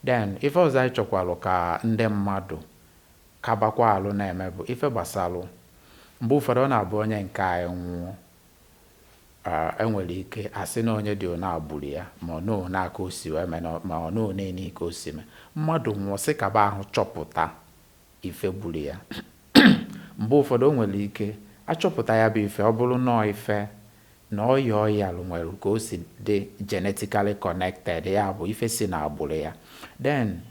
Then, ife ọzọ anyị chọkwalụ ka ndị mmadụ kabakwa alụ na-eme bụ ife gbasalụ mgbe ụfọdụ ọ na-abụ onye nke anyị nwụọ, e nwere ike a sị na onye dị onaa gburu ya ma ọ nọọ onaa ka o si wee mee ma ọ nọọ onenii ka o si mee. Mmadụ nwụọ, sị kaba ahụ chọpụta ife gburu ya. Mgbe ụfọdụ o nwere ike a chọpụta ya bụ ife ọ bụrụ na ọ ife na ọya ọ yalụ nwere ka o si dị genetically connected, ya bụ ife si n'agbụrụ ya, then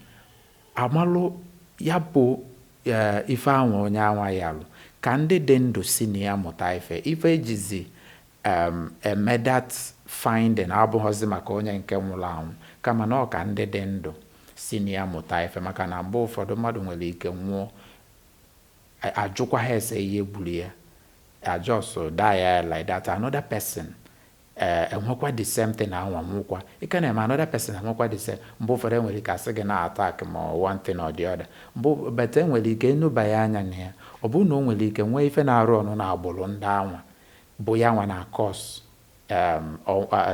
amalụ ya bụ eh, ife anwa onye anwa yalụ ka ndị dị ndụ si na ya mụta ife ife ejizi um, eme that finding abụghọzi maka onye nke nwụrụ anwụ kama na ọ ka ndị dị ndụ si na ya mụta ife maka na mgbe ụfọdụ mmadụ nwere ike nwụọ a- ajụkwaha ese ihe gburu ya Ọ just die like that another person eh, enwekwa the same thing anwa nwụkwa ị ka na-eme another person enwekwa the same mgbe ụfọdụ enwere ike asị gị na attack ma one thing or the other mgbe but enwere ike enebanye anya na ya ọ bụrụ na o nwere ike nwee ife na-arụ ọnụ na agbụrụ ndị anwa bụ ya nwa na-cause um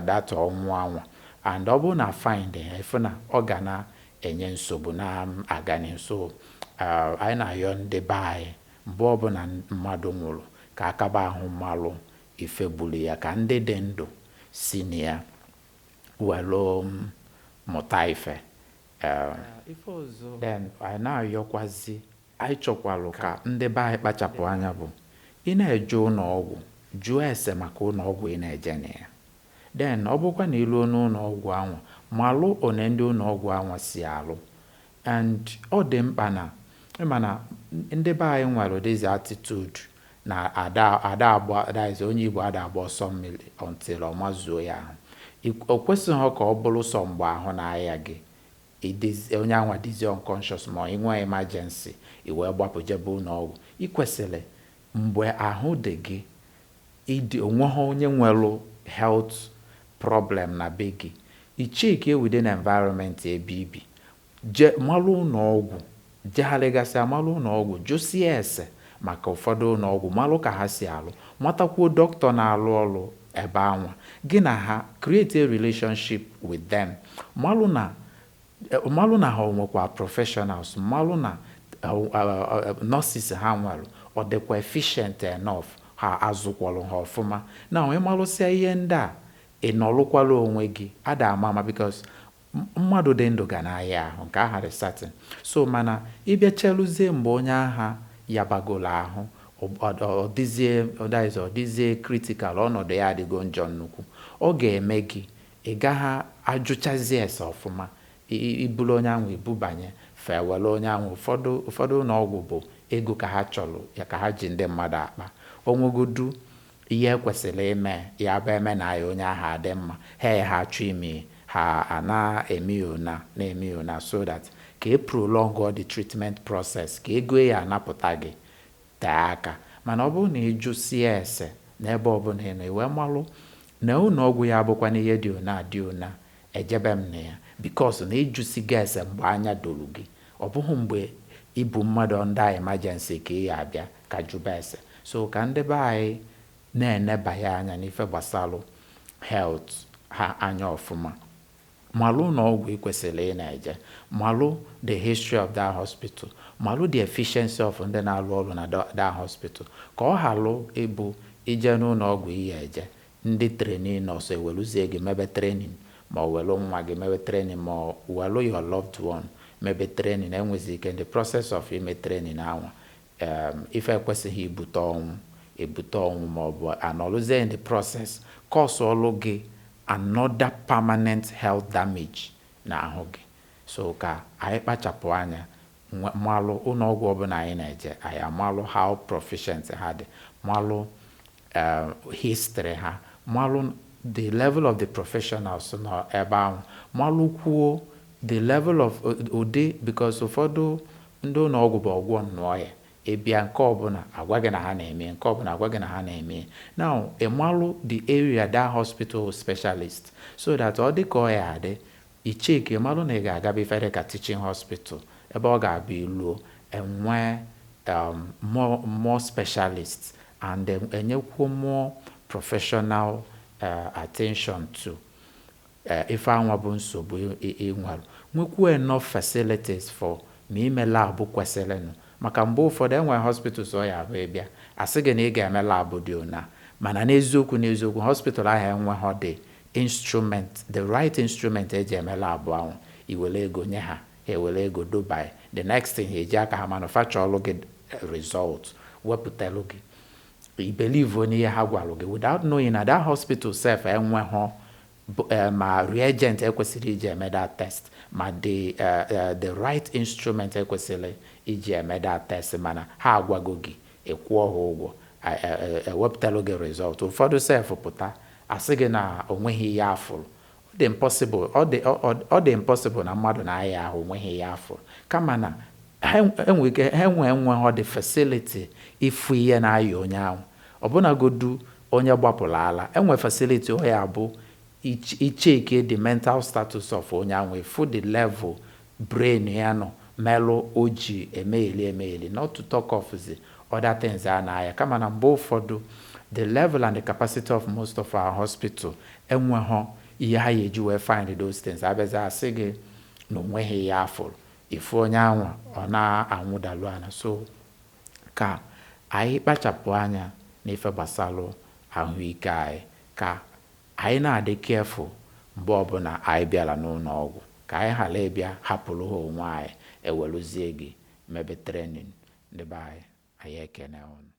that ọnwụ anwa and ọ bụrụ na find ya ịfụ na ọ ga na-enye nsogbu na um, aga n'ihu so um, anyị na-ayọ ndị be anyị mgbe ọbụla mmadụ nwụrụ ka akaba ahụ malụ ife gburu ya ka ndị dị ndụ si na ya welu um, mụta ife um, ife ọzọ then anyị na-ayọkwazi Anyị chọkwalụ ka ndị be anyị kpachapụ anya bụ ị na-eje ụlọ ọgwụ, jụọ ese maka ụlọ ọgwụ ị na-eje na ya. Then, ọ bụkwa na ị luo n'ụlọ ọgwụ anwa, malụ one ndị ụlọ ọgwụ anwa si alụ. And ọ dị mkpa na, ị ma na ndị be anyị nwelụ this attitude na ada ada agba that is onye Igbo ada agba ọsọ mmiri until ọ mazuo ya ahụ. I, o kwesịghọ ka ọ bụrụ sọ mgbe ahụ na-aya gị Ị dịzi, onye anwa dịzi unconscious ma ị nwee emergency, i wee gbapụ jebe ụlọọgwụ. I kwesịrị, mgbe ahụ dị gị, ịdị, o nweghị onye nwere health problem na be gị, i checkie within environment ebe i bi, je, malụ ụlọọgwụ. Jegharịgasịa malụ ụlọọgwụ, jụsịa ese maka ụfọdụ ụlọọgwụ, malụ ka ha si alụ, matakwuo doctor na-alụ ọrụ ebe anwa. Gị na ha create a relationship with them, malụ na malụ na ha o nwekwa professionals, malụ na nurses ha nwere ọ dịkwa efficient enough, ha a zụkwara ha ọfụma. Now, ị malụsịa ihe ndị a, ị nọlụkwara onwe gị. A da ama ama because Mmadụ dị ndụ ga na-aya ahụ, nke aha dị certain. So, mana ị bịa cheluzie mgbe onye aha yabagolu ahụ, ọ dịzie, that is, ọ dịzie critical, ọnọdụ ya adịgo njọ nnukwu, ọ ga-eme gị ị gaghị ajụchazi ese ọfụma, i bulu onye ahụ i bubanye, fa ewelu onye ahụ, ụfọdụ ụfọdụ ụlọọgwụ bụ ego ka ha chọrọ, ya ka ha ji ndị mmadụ akpa, o nwegodu Ihe e kwesịrị ime ya bụ e mena ya onye ahụ adị mma, ha e ha chọọ ime ya, ha a na-eme ya ona, na-eme ya ona so that ka e prolong all the treatment process, ka ego e ya anapụta gị tee aka. Mana ọ bụrụ na ị jụsịa ese n'ebe ọbụla ị nọ, i wee malụ na ụlọ ọgwụ ya abụkwanụ ihe dị ona dị ona, ejebe m na ya because na ị jụsigo ese mgbe anya doro gị. Ọ bụghị mgbe i bu mmadụ under emergency ka ị ya abịa ka jụba ese. So ka ndị be anyị na-enebaya anya n'ife gbasalụ health ha anya ọfụma. Malụ ụlọọgwụ i kwesịrị ị na-eje. Malụ the history of that hospital. Malụ the efficiency of ndị na-alụ ọlụ na that hospital. Ka ọ halụ ịbụ i jee n'ụlọọgwụ ị ya eje, Ndị trainee-nurse eweluzie gị mebe training ma ọ welụ nwa gị mebe training ma ọ welụ your loved one mebe training e nwezi ike in the process of ime training anwa um ife ekwesịghị ibute ọnwụ ebute ọnwụ ma ọ bụ a nọlụzie in the process cause-ọlụ gị another permanent health damage n'ahụ gị. So ka anyị kpachapụ anya malụ ụlọọgwụ ọbụla anyị na-eje anyị amalụ how proficient ha dị, malụ eh, history ha malụ the level of the professionals nọ ebe ahụ malụkwuo the level of ụdị because ụfọdụ ndị ụlọ ọgwụ bụ ọgwọ nnụ ọya ị bịa nke ọbụla agwa gị na ha na-eme nke ọbụla agwa gị na ha na-eme now ị malụ the area that hospital specialist so that ọ dị ka ọ ya adị I check ị malụ na ị ga-agaba ife dị ka teaching hospital ebe ọ ga-abụ i luo, e nwee um more more specialists and e e nyekwuo more professional um attention to um ife anwa bụ nsogbu ị ị ị nwere. Nwekwuo enough facilities for ma ime lab kwesịrịnụ. Maka mgbe ụfọdụ, e nwee hospitals ọ ya abụ ị bịa, a sị gị na ị ga-eme lab dị ona. Mana n'eziokwu n'eziokwu, hospital ahụ enweghọdị Instrument, the right instrument e ji eme lab ahụ, i welu ego nye ha, ha ewelu ego doba, the next thing ha eji aka ha manufacture-lụ gị result, wepụtalụ gị. I believe-o n'ihe ha gwalụ gị without knowing na that hospital sef enweghọ ma reagent e kwesịrị iji eme that test ma the the right instrument e kwesịrị iji eme that test mana ha agwago gị Ị kwụọ ha ụgwọ, a e e ewepụtalụ gị result. Ụfọdụ sef pụta, a sị gị na o nweghị ihe a fụrụ. Ọ dị impossible, ọ dị ọ ọ ọ dị impossible na mmadụ na-aya ahụ o nweghị ihe a fụrụ. Kama na ha e nwee ike ha enwe enweghọ the facility ịfụ ihe na-aya onye ahụ. Ọbụnagodu onye gbapụrụ ala, e nwee facility ọ ya abụ i i chekie the mental status of onye ahụ, ị fụ the level Brain ya nọ melụ o ji emegheli emegheli not to talk of the other things a na-aya kama na mgbe ụfọdụ the level and the capacity of most of our hospital enweghọ ihe ha ya-eji wee find those things. A bịazie a sị gị na o nweghị ihe a fụrụ, ị fụ onye anwa ọ na-anwụdalu ana. So ka anyị kpachapụ anya n'ife gbasalụ ahụike anyị ka Anyị na-adị careful mgbe ọbụla anyị bịara n'ụlọọgwụ ka anyị ghara ịbịa hapụrụ ha onwe anyị ewelụzie gị mebe training. Ndị be anyị, anyị ekene ụnụ.